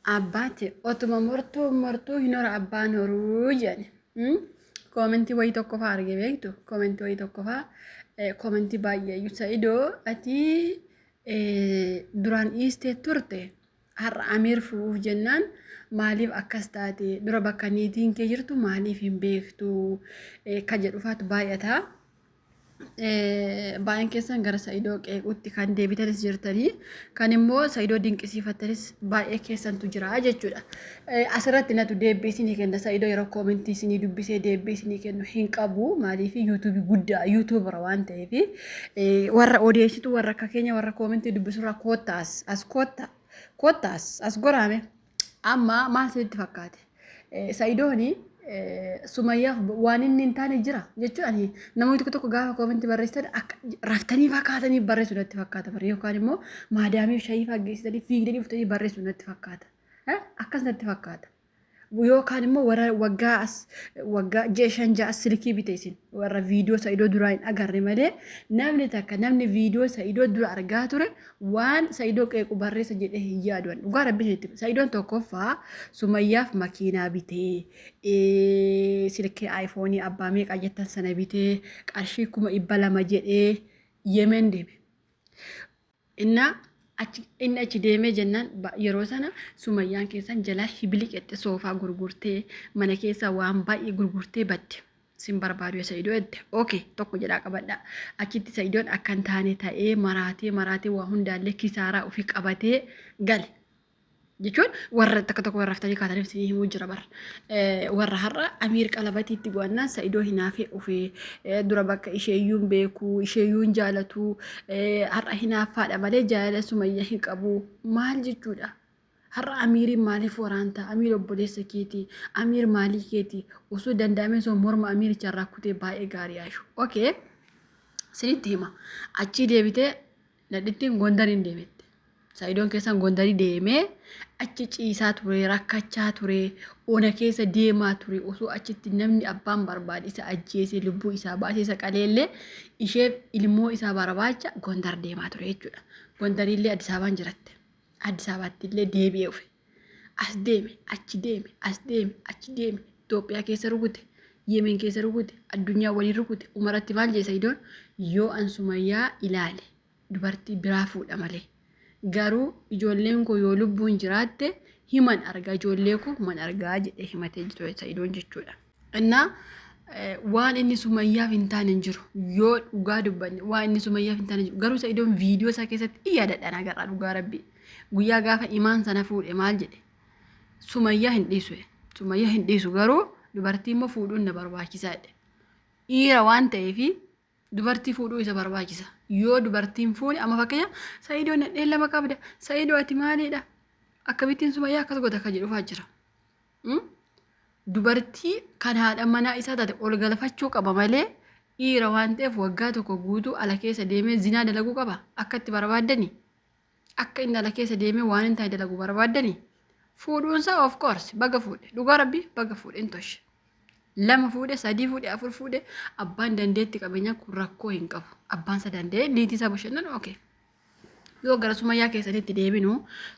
Abbaati otuma mortuun mortuu hin hora abbaan horuu jedhani. Mm? Koomentii wayii tokkofaa arge beektu koomentii wayii tokkofaa eh, koomentii baay'ee iyyuu sa'idoo ati eh, duraan dhiistee turte har'a amiir fuudhuuf jennaan maaliif akkas taate dura bakka niitiin kee jirtu maaliif hin beektu eh, ka jedhufaatu baay'ata. Baay'een keessan gara Sa'idoo qeequutti kan deebitanis jirtanii kan immoo Sa'idoo dinqisiifattanis baay'ee keessantu jira jechuudha. Asirratti natu deebbii isinii kenna Sa'idoo yeroo koomentii isinii dubbisee deebbii isinii kennu hin qabu maaliif yuutuubii guddaa yuutuubara waan ta'eef warra odeessitu warra akka keenya warra koomentii dubbisurraa koottaas as kootta koottaas as goraame. Amma maal isinitti fakkaate? Eh, Sa'idooni eh, Sumayyaaf waan inni hin taane jira jechuun ani namoonni tokko tokko gaafa koominti barreessitan akka raftanii fakkaatanii barreessu natti fakkaata bara yookaan immoo maadaamiif shayii faggeessitanii fiigdanii dhuftanii barreessu natti fakkaata. Eh, Akkas natti fakkaata. Yookaan immoo warra waggaa as waggaa ji'a shan ja'a as silkii bite isin warra viidiyoo sa'idoo duraa hin agarre malee namni takka namni viidiyoo sa'idoo dura argaa ture waan Sa'idoo qeequ barreessa jedhee hin yaadu ani dhugaa rabbi isinitti hima. Sa'idoon tokkoffaa sumayyaaf makiinaa bitee ee, silkii aayifoonii abbaa meeqaa jettan sana bitee qarshii kuma dhibba lama jedhee yemen deeme. Inna achi inni achi deemee jennaan ba- yeroo sana sumayyaan keessan jalaa hibiliqette soofaa gurgurtee mana keessaa waan baay'ee gurgurtee badde. sin barbaadu ya sa'idoo jette ok tokko jedhaa qabadhaa achitti sa'idoon akka hin taane ta'ee maraatee maraatee waa hundaallee kisaaraa ofii qabatee gale jechuun warra takka tokko warra haftanii kaataniif isinii himuu jira bar warra har'a amiir qalabatii itti bu'annaan sa'idoo hinaafee ofee dura bakka isheeyyuun beeku isheeyyuun jaalatu har'a hinaaffaadha malee jaalala sumayya hin qabu maal jechuudha Har'a Amiiriin maaliif waraanta? Amiir obboleessa keeti. Amiir maalii keeti. Osoo danda'amee osoo morma Amiiricha irraa kutee baay'ee gaarii Aishu. Okay. Sinitti hima. Achii deebitee nadhittiin Gondariin deemette. Saayidoon keessan Gondarii deemee achi ciisaa ture, rakkachaa ture, ona keessa deemaa ture. Osoo achitti namni abbaan barbaade isa ajjeesee lubbuu isaa baasee isa qaleellee isheef ilmoo isaa barbaacha Gondar deemaa ture jechuudha. Gondariillee Addis Ababaan jiratte. Addis Ababaatti illee deebi'ee dhufe. As deeme, achi deeme, as deeme, achi deeme. Itoophiyaa keessa rukute, Yemen keessa rukute, addunyaa waliin rukute. Umaratti maal jee Sayidoon? Yoo an Sumayyaa ilaale dubartii biraa fuudha malee. Garuu ijoolleen koo yoo lubbuun jiraatte himan argaa ijoollee koo man argaa jedhee himatee jiru Sayidoon jechuudha. Innaa eh, waan inni sumayyaaf hin taane hin jiru. Yoo dhugaa dubbanne waan inni sumayyaaf hin taane hin jiru. Garuu isa iddoon viidiyoo isaa keessatti in yaadadhaan agarraa dhugaa rabbii. Guyyaa gaafa imaan sana fuudhe maal jedhe? Sumayyaa hin dhiisu. jedhe. Sumayyaa hin dhiisu garuu dubartii immoo fuudhuun na barbaachisaa jedhe. Dhiira waan ta'eefi dubartii fuudhuu isa barbaachisa yoo dubartiin fuune amma fakkeenya sa'idoo nadheen lama qabda sa'idoo ati maaliidha akkamittiin sumayyaa akkas goota akka jedhufaa jira Mm? dubartii kan haadha manaa isaa taate ol galfachuu qaba malee dhiira waan ta'eef waggaa tokko guutuu ala keessa deemee zinaa dalaguu qaba akka itti barbaaddani Akka inni ala keessa deemee waan hin taane dalagu barbaaddanii? Fuudhuunsaa of course baga fuudhe dhugaa rabbii baga fuudhe hin toshe. Lama fuudhe sadii fuudhe afur fuudhe abbaan dandeetti qabeenyaa kun rakkoo hin qabu. Abbaan isa danda'ee niitii isaa bashannanu okay. Yoo gara sumayyaa keessanitti deebinu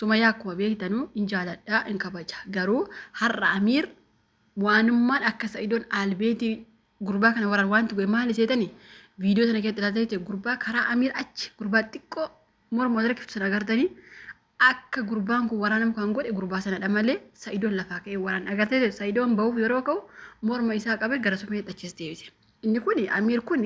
sumayyaa akkuma beektanu hin jaaladha hin kabaja garuu har'a amiir waanummaan akka sa'idoon albeetii gurbaa kana waraan wanti goe maali seetani viidiyoo sana keessatti ilaaltanii ta'e gurbaa karaa amiir achi gurbaa xiqqoo morma wal rakkiftu sana agartanii akka gurbaan kun waraanamu kan godhe gurbaa sanadha malee sa'idoon lafaa ka'ee waraan agartee ta'e sa'idoon bahuuf yeroo ka'u morma isaa qabee gara sumee dhachis deebise. Inni kun amiir kun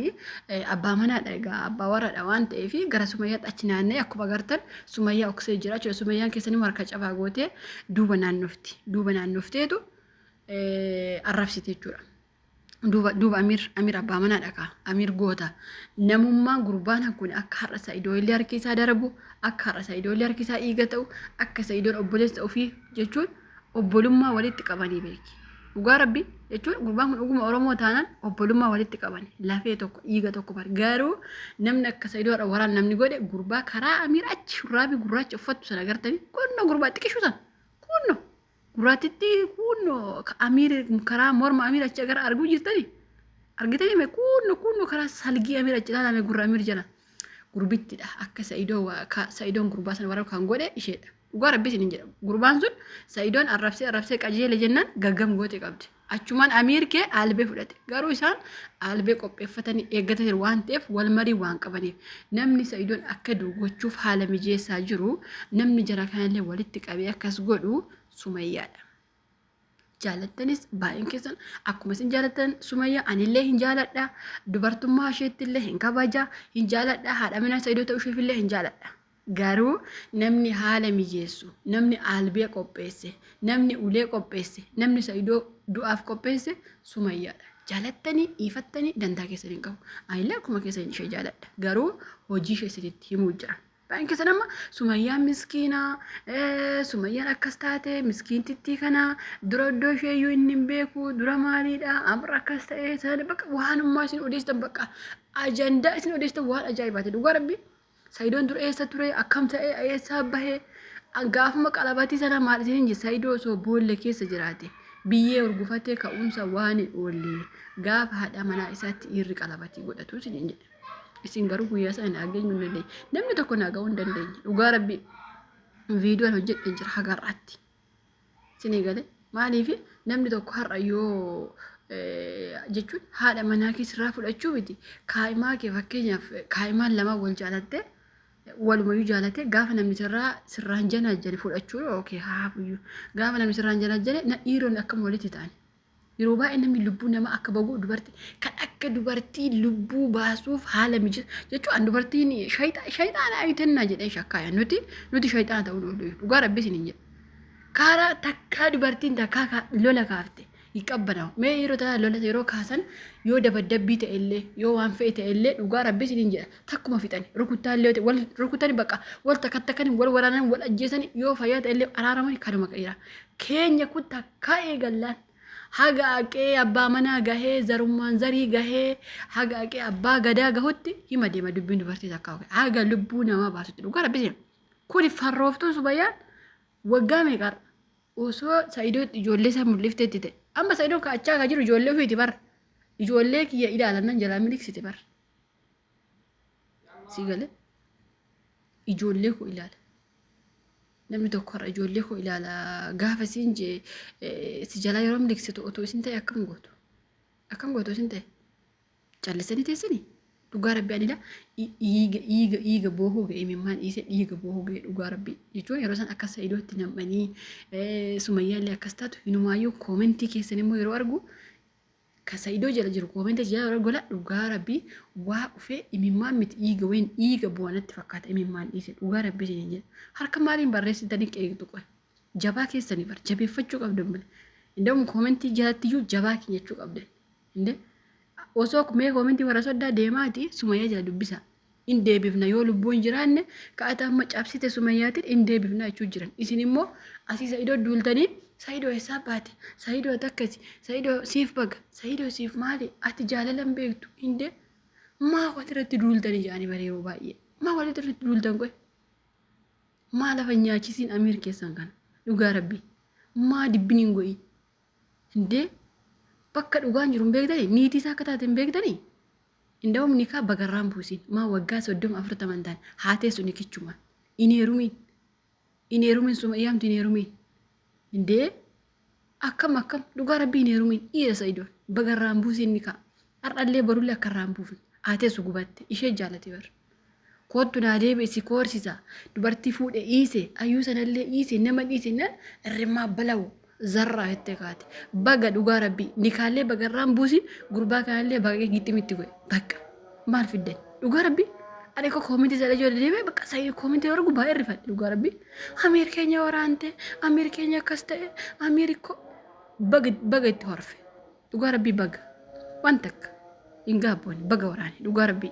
abbaa manaadha egaa abbaa warraadha waan ta'eef gara sumayyaatti achi naanna'ee akkuma agartan sumayyaa oksee jira jechuudha sumayyaan keessanii harka cabaa gootee duuba naannofti duuba naannofteetu arrabsite jechuudha. Duuba duuba Amir Amir abbaa manaa dhakaa Amir goota namummaa gurbaan kun akka har'a Sa'idoo illee harki isaa darabu akka har'a Sa'idoo illee harki isaa dhiiga ta'u akka Sa'idoon obboleessa ofii jechuun obbolummaa walitti qabanii beeki. Dhugaa rabbi jechuun gurbaan kun dhuguma Oromoo taanaan obbolummaa walitti qaban lafee tokko dhiiga tokko bar garuu namni akka Sa'idoo har'a waraan namni godhe gurbaa karaa Amir achi shurraabii gurraacha uffattu sana agartanii kunno gurbaa xiqishu sana kunno Gurraattitti kuunno Amiir karaa morma Amiir achi gara arguu jirtani. Argitanii mee kuunno kuunno karaa salgii Amiir achi ilaalame gurra Amiir jala. Gurbittidha akka Sa'idoo waa- ka- Sa'idoon gurbaa sana warra kan godhe isheedha. Dhugaa rabbi isin hin jedhamu. Gurbaan sun Sa'idoon arrabsee arrabsee qajeele jennaan gaggam goote qabdi. Achumaan Amiir kee aalbee fudhate. Garuu isaan aalbee qopheeffatanii eeggata jiru waan ta'eef wal marii waan qabaniif namni Sa'idoon akka du'u gochuuf haala mijeessaa jiru namni jara kanallee walitti qabee akkas godhu Sumayyaadha. Jaalattanis baay'een keessan akkuma isin jaalattan Sumayyaa anillee hin jaaladha. Dubartummaa isheettillee hin kabaja hin jaaladha. Haadha manaa Sa'idoo ta'uu isheefillee hin jaaladha. Garuu namni haala mijeessu, namni aalbee qopheesse, namni ulee qopheesse, namni Sa'idoo du'aaf qopheesse Sumayyaadha. Jaalattanii, dhiifattanii dantaa keessan hin qabu. Anillee akkuma keessan ishee jaaladha. Garuu hojii ishee isinitti himuu jira. Baay'een keessan amma Sumayyaan miskiina, eh, Sumayyaan akkas taate, miskiintittii kana, dura iddoo ishee iyyuu inni hin beeku, dura maaliidha, amr akkas ta'e, sana bakka waanummaa isin odeessitan bakka ajandaa isin odeessitan waan ajaa'ibaati. Dhugaa rabbii Sayidoon dur eessa ture akkam ta'e eessaa bahe gaafuma qalabatii sana maal isin hin sayidoo osoo boolla keessa jiraate biyyee urgufatee ka'umsa waan hin oollee gaafa haadha manaa isaatti dhiirri qalabatii godhatu isin hin jedhe. Isin garuu guyyaa sana naa geenyu hin dandeenye. Namni tokko naa ga'uu hin dandeenye. Dhugaa rabbii viidiyoon hojjedhe jira hagarraatti. Isinii galee maaliif namni tokko har'a yoo jechuun haadha manaa kee sirraa fudhachuu miti kaa'imaa kee fakkeenyaaf kaa'imaan lama wal jaalattee walumayyuu jaalatee gaafa namni sirraa sirraan janaajjane fudhachuu yookiin haafuyyuu gaafa namni sirraan janaajjane na dhiironni akkam walitti ta'an Yeroo baay'ee namni lubbuu nama akka bagu dubartii kan akka dubartii lubbuu baasuuf haala mijeessu jechuun an dubartiin shayxaana ayitannaa jedheen shakkaaya nuti nuti shayxaana ta'uu dhoodhu dhugaa rabbi isin hin jedhu. Karaa takkaa dubartiin takkaa ka- lola kaafte hin qabbanaa'u. Mee yeroo tana lola yeroo kaasan yoo dabaddabbii ta'e illee yoo waan fe'e ta'e illee dhugaa rabbi isin hin jedha takkuma fixani rukuttaa illee ta'e wal rukutani bakka wal takka takkani wal waraanan wal ajjeesani yoo fayyaa ta'e illee araaraman kanuma qeera. Keenya kun takka Ka'ee gallaan haga aqee abbaa manaa gahee zarummaan zarii gahee haga aqee abbaa gadaa gahutti hima deema dubbiin dubartii takkaa oke haga lubbuu namaa baasutti dhugaa rabbi seena kuni farrooftuun subayyaan waggaa meeqarra osoo sa'idoo ijoollee isaa mul'iftee itti ta'e amma sa'idoon ka'achaa kan jiru ijoollee ofiiti bar ijoollee kiyya ilaalan nan jalaa miliksite bar si gale ijoollee koo ilaala namni tokko har'a ijoollee koo ilaala gaafa isiin jee si jalaa yeroo miliksitu otoo isin ta'e akkam gootu akkam gootu isin ta'e callisanii teessanii dhugaa rabbi anila dhiiga dhiiga dhiiga boohuu ga'e mimmaan dhiise dhiiga boohuu ga'e dhugaa rabbi jechuun yeroo san akka sa'idootti nam'anii sumayyaallee akkas taatu hinumaayyuu koomentii keessan immoo yeroo argu ka saidoo jala jiru koomenta jala warra gola dhugaa rabbii waa ufee imimmaan miti dhiiga wayin dhiiga bu'aa natti fakkaata imimmaan dhiise dhugaa rabbii isin jedha harka maaliin barreessitanii qeeqxu qoy jabaa keessanii bar jabeeffachuu qabdan bile indawum koomentii jalatti iyyuu jabaa keenya jechuu qabdan inde osoo mee koomentii warra soddaa deemaati sumayyaa jala dubbisaa in deebifna yoo lubbuu hin jiraanne ka'ata amma cabsite sumayyaatiin in deebifna jechuu jiran isin immoo asii sa'idoo duultanii sa'idoo eessaa baate sa'idoo takkasi sa'idoo siif baga sa'idoo siif maali ati jaalala hin beektu hin dee maa walirratti duultanii jaanii bara yeroo baay'ee maa walirratti duultan qoy maa lafa hin nyaachisiin amiir keessan kana dhugaa rabbii maa dibbin hin go'ii hin dee bakka dhugaan jiru hin beektanii niitii isaa akka taate hin beektanii Indawum nikaa bagarraan buusin maa waggaa soddoma afurtaman taan haa teessu nikichumaan hin heerumiin hin heerumiin sumayyaamti hin heerumiin indee akkam akkam dhugaa rabbii hin heerumiin dhiira sa'idoon bagarraan buusin nikaa har'allee barullee akkarraan buufne haa teessu gubatte ishee jaalati bar Koottu naa deebi'i si koorsisa dubartii fuudhe dhiise ayyuu sanallee dhiise nama dhiise nan irrimmaa balawu zarraa jettee kaate baga dhugaa rabbii nikaallee baga irraan buusi gurbaa kanallee baga gixximitti godhe bakka maal fiddan dhugaa rabbii ani ko koominti jala ijoollee deemee bakka sayyid koominti wargu baay'ee rifadhe dhugaa rabbii amiir keenya waraante amiir keenya akkas ta'e amiir ko baga baga itti horfe dhugaa rabbii baga waan takka hin gaabboone baga waraane dhugaa rabbii